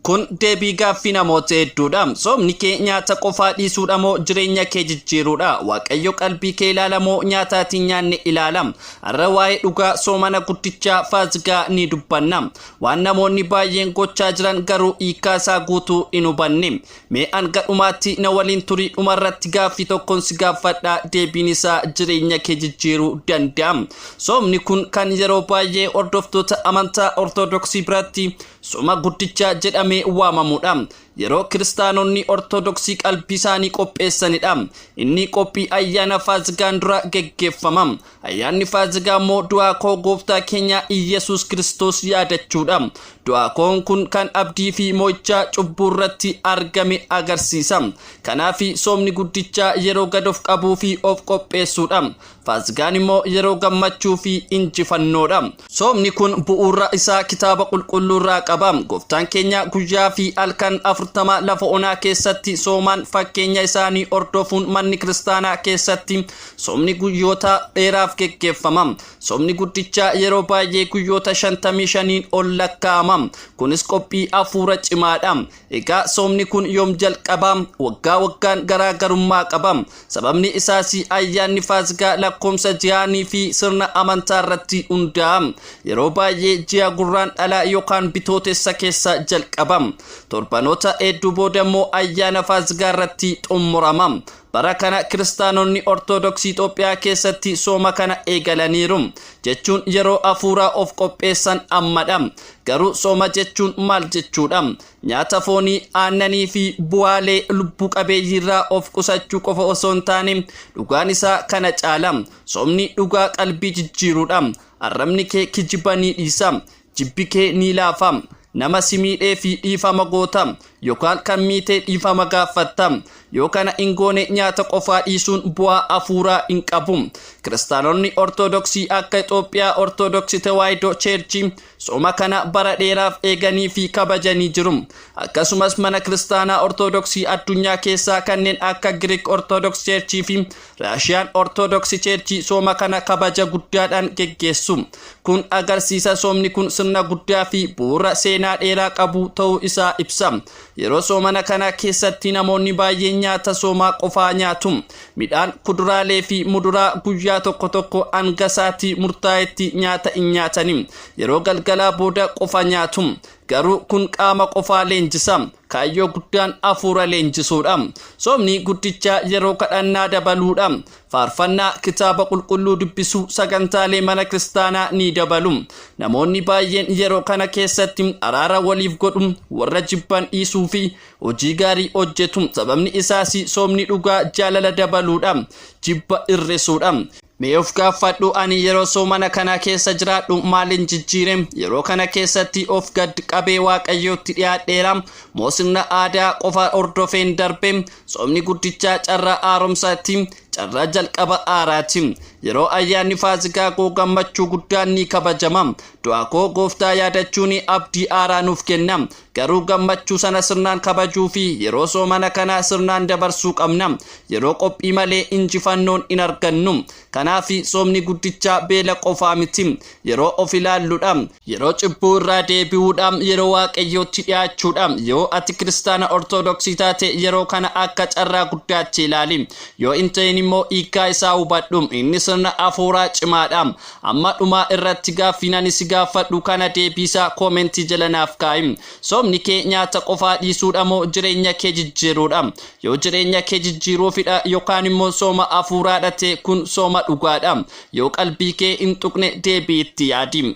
Kun deebii gaaffii namoota hedduudha. Soomni kee nyaata qofaa dhiisuudha moo jireenya kee jijjiiruudha? Waaqayyo qalbii kee ilaala moo nyaataatiin nyaanne ilaala? Har'a waa'ee dhugaa soomana guddichaa Faasigaa ni dubbanna. Waan namoonni baay'een gochaa jiran garuu hiikaa isaa guutuu hin hubanne. Mee hanga dhumaatti na waliin turii dhumarratti gaaffii tokkon si gaaffadha deebiin isaa jireenya kee jijjiiruu danda'a. Soomni kun kan yeroo baay'ee hordoftoota amantaa Ortodoksii biratti Suma Guddichaa jedhamee waamamu dha. Yeroo Kiristaanonni Ortodoksii qalbii isaanii qopheessani dha. Inni qophii ayyaana Faasigaan dura geggeeffama. Ayyaanni Faasigaa immoo du'aa koo Gooftaa keenya Iyyasuus Kiristoos yaadachuu dha. Du'aa koon kun kan abdii fi mo'ichaa cubbuu irratti argame agarsiisa. Kanaafi soomni guddichaa yeroo gad of qabuu fi of qopheessuu dha. Faasigaan immoo yeroo gammachuu fi injifannoo dha. Soomni kun bu'uurra isaa kitaaba qulqulluurraa qaba. Gooftaan keenya guyyaa fi halkan 40 lafa onaa keessatti soomaan fakkeenya isaanii hordofuun manni kiristaanaa keessatti soomni guyyoota dheeraaf geggeeffama. Soomni guddichaa yeroo baay'ee guyyoota 55n ol lakkaa'ama. Kunis qophii hafuura cimaadha. Egaa soomni kun yoom jalqaba? Waggaa waggaan garaa garummaa qaba. Sababni isaas ayyaanni Faasikaa lakkoomsa ji'aanii fi sirna amantaa irratti hundaa'a. Yeroo baay'ee ji'a gurraan dhalaa yookaan bitootessa keessa jalqaba. Torbanoota hedduu booda immoo ayyaana Faasikaa irratti xumurama. Bara kana Kiristaanonni Ortodoksii Itoophiyaa keessatti sooma kana eegalaniiru. Jechuun yeroo afuuraa of qopheessan ammadha. Garuu sooma jechuun maal jechuudha? Nyaata foonii, aannanii fi bu'aalee lubbuu qabeeyyiirraa of qusachuu qofa osoo hin taane dhugaan isaa kana caala. Soomni dhugaa qalbii jijjiiruudha. Arrabni kee kijiba ni dhiisa. Jibbi kee ni laafa. Nama si miidhee fi dhiifama goota. Yokaan kan miitee dhiifama gaaffatta. Yoo kana hin goone nyaata qofaa dhiisuun bu'aa afuuraa hin qabu. Kiristaanonni Ortodoksii akka Itoophiyaa Ortodoksi Tewaayidoo Cheerchii sooma kana bara dheeraaf eeganii fi kabajanii jiru. Akkasumas mana kiristaanaa Ortodoksii addunyaa keessaa kanneen akka Giriik Ortodoks Cheerchii fi Raashiyaan Ortodoksi Cheerchii sooma kana kabaja guddaadhaan geggeessu. Kun agarsiisa soomni kun sirna guddaa fi bu'uura seenaa dheeraa qabu ta'uu isaa ibsa. Yeroo soomana kana keessatti namoonni baay'een nyaata soomaa qofaa nyaatu. Midhaan, kuduraalee fi muduraa guyyaa tokko tokko hanga sa'aatii murtaa'etti nyaata hin nyaatani. Yeroo galgalaa booda qofa nyaatu. Garuu kun qaama qofaa leenjisa. Kaayyoo guddaan hafuura leenjisuudha. Soomni guddicha yeroo kadhannaa dabaluudha. Faarfannaa, kitaaba qulqulluu dubbisuu, sagantaalee mana kiristaanaa ni dabalu. Namoonni baay'een yeroo kana keessatti araara waliif godhu, warra jibban dhiisuu fi hojii gaarii hojjetu. Sababni isaas soomni dhugaa jaalala dabaluudha, jibba hir'isuudha. Mee of gaaffadhu ani yeroo soomana kanaa keessa jiraadhu maalin jijjiire? Yeroo kana keessatti of gad qabee waaqayyootti dhiyaadheera moo sirna aadaa qofa hordofeen darbe? Soomni guddichaa carraa haaromsaati, carraa jalqaba haaraati. Yeroo ayyaanni faasikaa koo gammachuu guddaan ni kabajama. Du'a koo gooftaa yaadachuun abdii haaraa nuuf kenna. Garuu gammachuu sana sirnaan kabajuu fi yeroo soomana kanaa sirnaan dabarsuu qabna. Yeroo qophii malee injifannoon hin argannu. Kanaafi soomni guddichaa beela qofaa miti. Yeroo of ilaalludha. Yeroo cubbuu irraa deebi'uudha. Yeroo Waaqayyootti dhiyaachuudha. Yoo ati Kiristaana Ortodoksii taate yeroo kana akka carraa guddaatti ilaali. Yoo hin ta'in immoo hiikkaa isaa hubadhu. Inni sirna hafuuraa cimaadha. Amma dhumaa irratti gaaffiin ani si gaaffadhu kana deebii isaa comment jala naaf kaa'i. Soomni kee nyaata qofaa dhiisuudha moo jireenya kee jijjiiruudha? Yoo jireenya kee jijjiiruufidha yokaan immoo sooma hafuuraadha ta'e kun sooma dhugaadha. Yoo qalbii kee hin tuqne deebi'i itti yaadi.